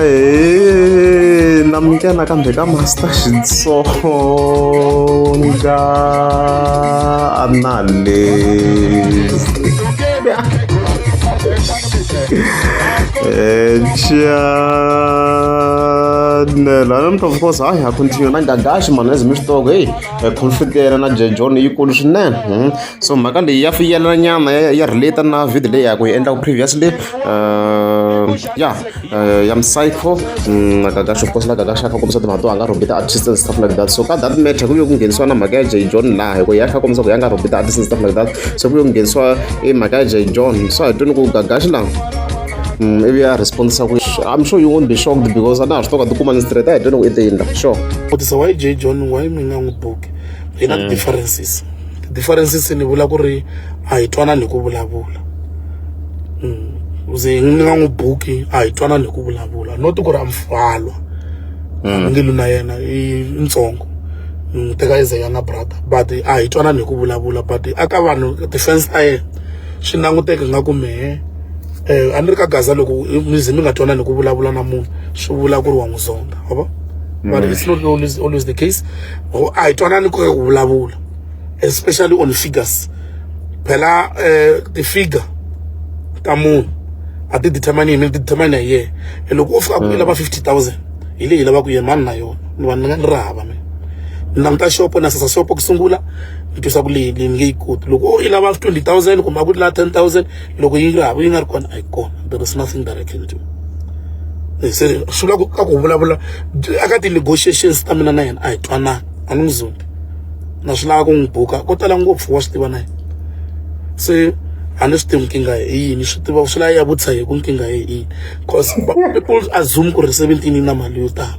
ae na mika nakambe ka master xitsonga anale echanel eh, and of course hayi ha continue nangagashi mani ezimistoko heyi Eh, pulpitera na jejon yikulu swinene hmm. so mhaka leyi ya fiyelana nyana ya relate na video leyi yaku yi endlaku previously eh, ya eh, ya mcyco hmm, nakakashopkosla kakashaka kombisa timhaka to a nga rhombi ti-artist and stuff like that so ka that matter ku ve ku nghenisiwa na mhaka ya jejon laha hi ku ya kha kombisa ku ya nga rhombi ti-artist and stuff like that so ku ve ku nghenisiwa i mhaka ya jejon so hi twini ku gagaxi laha Mm, ivi a respondisa ku i'm sure you won't be shocked because a na ha swi toka tikuma ni straight a hi dyoni ku i te yindla sure vutisa why j john why mi nga n'wi buki hi na ti-differences ti-differences ni vula ku ri a hi twanani hi ku vulavula Mm. ze ni nga n'wi buki a hi twanani hi ku vulavula not ku ri a mfalwa ndlelu na yena i ntsongo ni n'wi teka as a younger brother but a hi twanani hi ku vulavula but aka vanhu ti-fans ta yena swi languteka nga ku mehe um a ni ri ka gaza loko mi ze mi nga twanani ku vulavula na munhu swi vula ku ri wa n'wi zonda wa vo but it's not always, always the case a hi twanani ku vulavula especially on figures phela um ti-figure ta munhu a ti determine hi mi ti determine hi yena e loko o fika ku i lava fifty thousand hi leyi lavaka yena mani na yona ni va ni nga ni ri hava mina ni languta xopo na sasa xopo ku sungula yi twisa ku leyi leyi nge yi koti loko o yi lava twenty thousand kumbe a ku lava ten thousand loko yi ri hava yi nga ri kona a yi kona there is nothing that i can do se swi vula ka ku vulavula aka ti-negotiations ta mina na yena a hi twanana a ni n'wi zumbi na swi lava ku n'wi buka ko tala ngopfu wa swi tiva na yena se a ni swi tivi nkingha hi yini swi tiva swi lava ya vutisa hi ku nkingha hi yini cause people assume ku ri seventeen yi na mali yo tala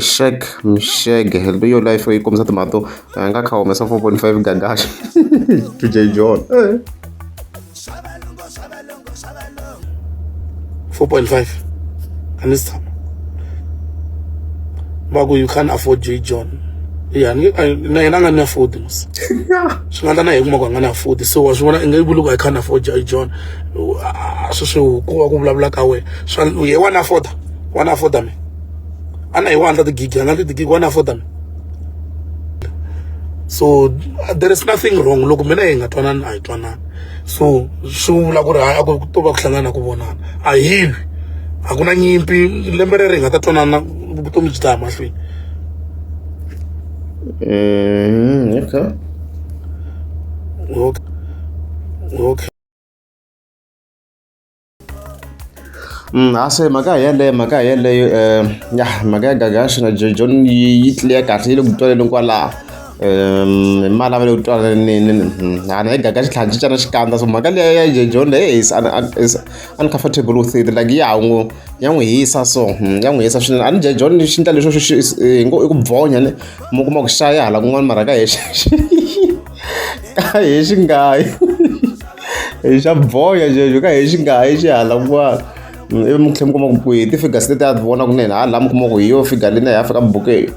Shake mshege hello yo life yi kombisa timhaka to a nga kha humesa 4.5 gagaxa to j john 4.5 a ni si tshama va ku you can't afford j john ya na yena a nga ni afford mos swi nga ta na hi kuma ku a nga ni afford so wa swi vona i nga yi vuli ku i can't afford j john sweswi ku va ku vulavula ka wena swa ye wa ni afforda wa ni afforda mina a na hi 100 gig 100 gig one afford me so there is nothing wrong loko mina hi nga twanani a hi twanani so swi vula ku ri hayi a ku to va ku hlangana ku vonana a hi lwi a ku na nyimpi lembe rero hi nga ta twanana vutomi byi ta ya mahlweni mm, okay. okay. okay. Mm, a se mhaka hi yeleyo mhaka hi yeleyo um ya mhaka ya gagashi na jojon yi tliya kahle yi le ku twaleleni kwalaho um hi malavelo yo twalanini mm, ana yi gagashi tlhela cincana xikandza so mhaka leya ya jojon leyi is uncomfortable with it like ya n'wi ya n'wi hisa so mm, ya n'wi hisa swinene a ni jojon xi ndla leswo i ku bvonya ni mi kuma ku xaya hala kun'wana mara ka hi ka hi xi nga yi hi xa boya xexo ka hi xi nga yi xi hala kun'wana ivi mi tlhela mi kuma ku hi ti-figures leti a ti vona kunene ha laha mi kuma ku hi yo figure leyi na hi afrika buku eyo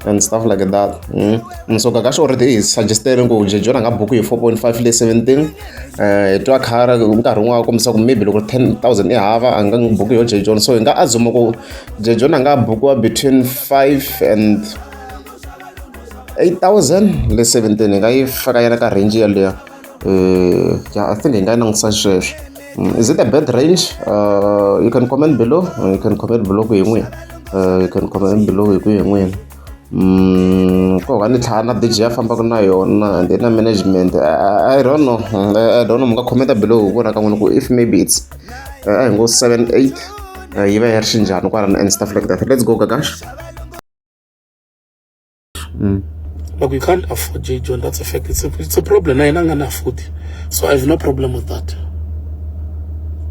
and stuff like that mm. msoka ka xorete i hi suggestele ku jejo rhanga buku hi four point five leyi seventeen um hi twa khara nkarhi wun'wana kombisa ku maybe loko ten thousand i hava a nga buku yo jejon so hi nga azuma ku jejon a nga bukiwa between five and 8017 hi nga yi faka yi ri ka range yeleyo um ya i think hi nga yi langutisa sweswo mm, is it a bad range uh, you can comment below uh, you can comment below ku hi n'wina uh, you can comment below hi ku hi n'wina mm, ko ka ni tlhaya na dj ya fambaka na yona and na management i don't know i don't know mi nga commenta below hi vona ka n'wina ku if maybe it's a hi ngo 7 8 yi va yi ri xinjhani kwala na and stuff like that let's go gagash Mm. Like we can't afford J. John. That's a fact. It's a, it's a problem. I don't afford it. So I have no problem with that.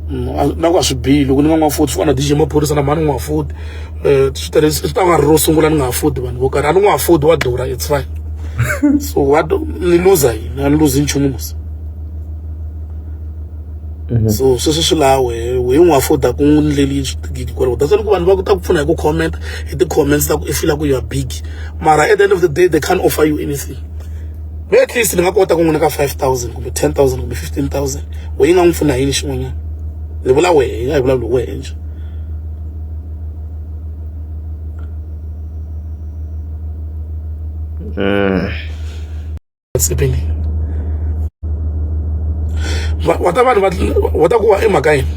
Mm, na ku a swi bihi loko ni nga n'wi afodi fana dj maphorisa na mhani n'wi afodi um eh, swi tele swi ta nga ri ro sungula ni nga afodi vanhu vo karhi a ni n'wi afodi wa durha it's fine so wa ni luza yini a ni luzi nchumu musa Mhm. so sweswi swi laha wehe wehe n'wi afforda ku n'wi ndleli swigidi kwalaho that's why loko vanhu va ku ta ku pfuna hi ku comment hi ti-comments ta ku i fila ku you are big mara at the end of the day they can't offer you anything me at least ni nga kota ku n'wi nyika five thousand kumbe ten thousand kumbe fifteen thousand wehe yi nga n'wi pfuna hi yini xin'wanyana ni vula wehe yi nga hi vulavuli wehe nje Mm. tsepeni wata vanhu wata ku wa i mhaka yini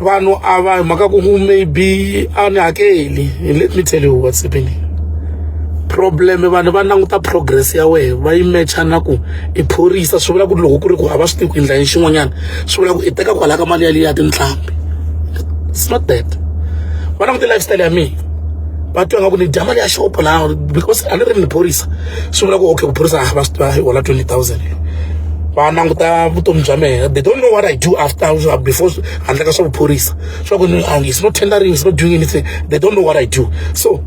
vanhu a va hi mhaka ku maybe a ni hakeli let me tell you what's happening problem vanhu va languta progress ya wehe va yi matcha na ku i phorisa swi vula ku ri loko ku ri ku hava swi tivi ku endla yini xin'wanyana swi vula ku i teka kwalaya ka mali ya leyi ya tintlhambi it's not that va languta lifestyle ya mina va twa nga ku ni dya mali ya xopo laha because a ni ri ni phorisa swi vula ku okay ku phorisa va swi tiva hi hola twenty thousand va languta vutomi bya mehe they don't know what i do after before handle ka swa vuphorisa swa ku it's not tendering it's not doing anything they don't know what i do so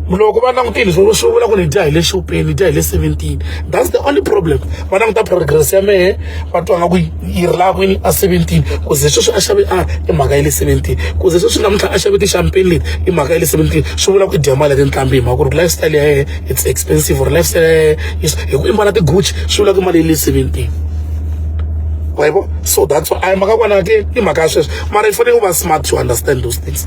loko va langutile swi vula ku ni dya hi le xopeni ni dya hi le seventeen that's the only problem va languta progress ya mehe va twa nga ku yi ri laha kwini a seventeen ku ze sweswi a xave a i mhaka ya le seventeen ku ze sweswi namuntlha a xave ti-champagne leti i mhaka ya le seventeen swi vula ku i dya mali ya tinqambi hi mhaka ku ri lifestyle ya yena it's expensive or lifestyle ya yena hi ku i mbala ti-gucci swi vula ku i mali ya le seventeen wayibo so that's why a hi mhaka kona ke i mhaka ya sweswo mara i fanele u va smart to understand those things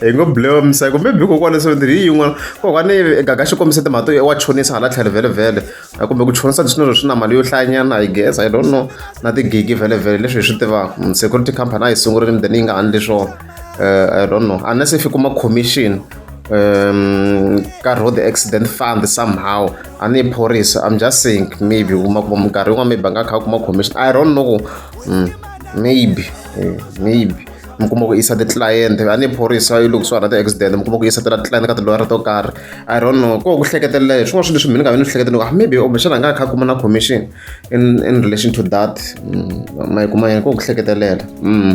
hi ngo blow msa kumbe bi kokwana so ndiri yin'wana kokwana gaga xi kombise timhaka to wa chonisa hala tlhelo vhelevhele kumbe ku chonisa leswi na swi na mali yo hlayanyana i guess i don't know na tigigi vhelevhele leswi hi swi tivaka mm, security company a yi sungurile mi then yi nga handli swona eh, i don't know unless if yi kuma commission um ka road accident fund somehow a ni phorisa i'm just saying maybe kuma kuma minkarhi yin'wana maybe a nga kha a kuma commission i don't know mm, maybe eh, maybe mi kuma ku yisa ti-client a ni phorisa yi loko swi hana ti-accident mi kuma ku yisa tela ti-client ka tilwara to karhi i don't know ko ku hleketelela hi swin'wana swilo leswi mina nga vi ni swi hleketelaka ah, maybe kumbexana a nga kha kuma na commission in in relation to that mm, ma yi kuma yini ko ku hleketelela mm.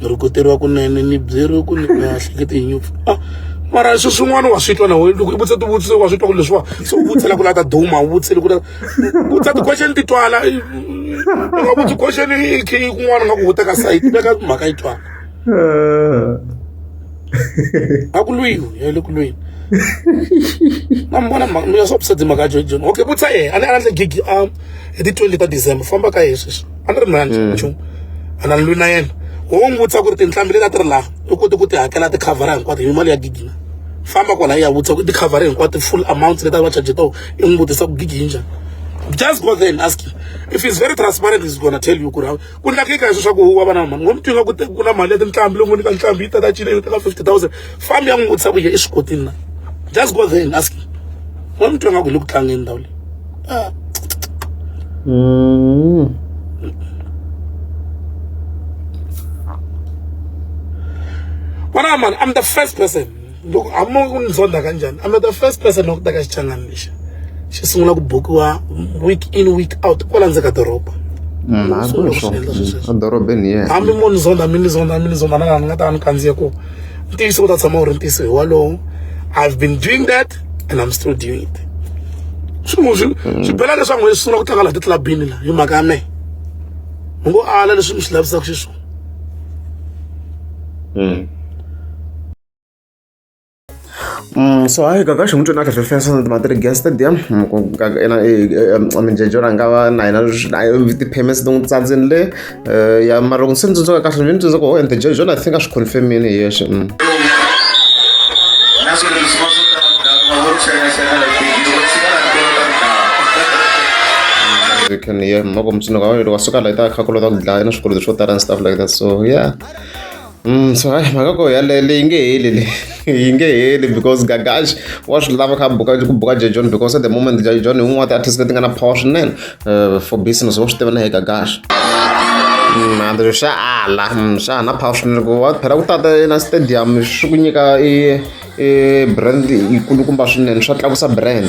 ni ri ku tirha kunene ni byeriwe ku ni nga hleketi hi nyupfu a ah, mara swi swin'wana wa swi twa na wena loko i vutisa tivutiso wa swi twa ku leswiwa se u vutisela ku lata duma u vutisele ku vutisa ti-question ti twala u nga vutsi question i khe i kun'wana nga ku huta ka sayiti veka mhaka yi twala a ku lwiwi ya le ku lweni na mi vona mhaka mi ya swa vusedzi mhaka ya jojon okay vutisa yena a ni a ni endle gigi a ah, hi ti-twenty ta december famba ka yena sweswi a ni ri mina hmm. nchumu a na ni lwi na yena ho n'wi vutisa ku ri tinhlambi leti a ti ri laha u kote ku ti hakela tikhavhara hinkwato hi mali ya gigi na famba kwala ya vutisa ku tikhavhara hinkwato full amount leti a va charge toho i n'wi vutisa ku gigi yi njhani just go there and ask him if he's very transparent he's gonna tell you ku ri ku ndlakeka hi swi swa ku wa va na mali ngo mi twinga ku ku na mali ya tinhlambi lowu ngo nyika nhlambi yi tata cina yi teka fifty thousand farm ya n'wi vutisa ku ye eswikotini na just go there and ask wa mi twa nga ku le ku tlangeni ndhawu leyi ah. mm. vona mani i'm the first person loko hamo ku ni zonda kanjhani i'm the first person loko ta ka xichangani lexi xi sungula ku bukiwa week in week out kwala ndzeni ka doroba hambi mo ni zonda mi ni zonda mi ni zonda na laha ni nga ta va ni kandziye kona ntiyiso wu ta tshama wu ri ntiyiso hi walowo i've been doing that and i'm still doing it swi n'wi swi swi bela leswaku n'wi sungula ku tlanga laha titlabini la hi mhaka ya mehe mi ngo ala leswi mi swi lavisaka xiswona Mm, so hayi kaka xin'wi tsona kahle fensa na timatiri gas stadium ena minjejo ra nga va na yena ti-payments ti n'wi tsandzini le eh, ya mara loko se ni tsundzuka kahle ni tsundzuka oh and the jejo i think a swi confirmini hi yexe mm. you can hear moko mtsundzuka wa yena wa suka la yi ta khakulo ta ku dlaya na swikweleti swo tala and stuff like that so yeah Mm, so hayi mhaka ko yaleyo leyi nge heli le yi nge heli because gagash wa swi lava kha buka ku buka Jay John because at the moment Jay John hi un'wana wa ti-artist leti nga na power swinene uh, for business wa swi tiva na hi gagash Mm, and swa ala Mm, swa ha na power swinene ku wa phela ku tata na stadium swi ku nyika i I brand yi kulukumba swinene swa tlakusa brand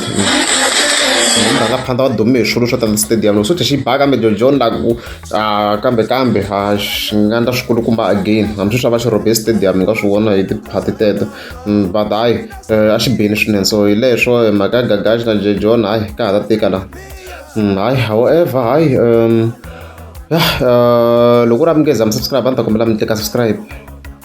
rhangaphandla va dume hi swilo swo tani stadium loko swo thya xi ba kambe jojon la ku a kambe kambe a xi nga ndla swikulukumba again hambi sweswi a va xi rhobe stadium hi nga swi vona hi tiphati teto mm, but hayi eh, a xi beni swinene so hi leswo eh, mhaka ya gagaxi na jojon hayi ka ha ta tika la mm, hayi however hayi um ya eh, loko u ri a mi nge za mi subscribe a ni ta kombela mi tleka subscribe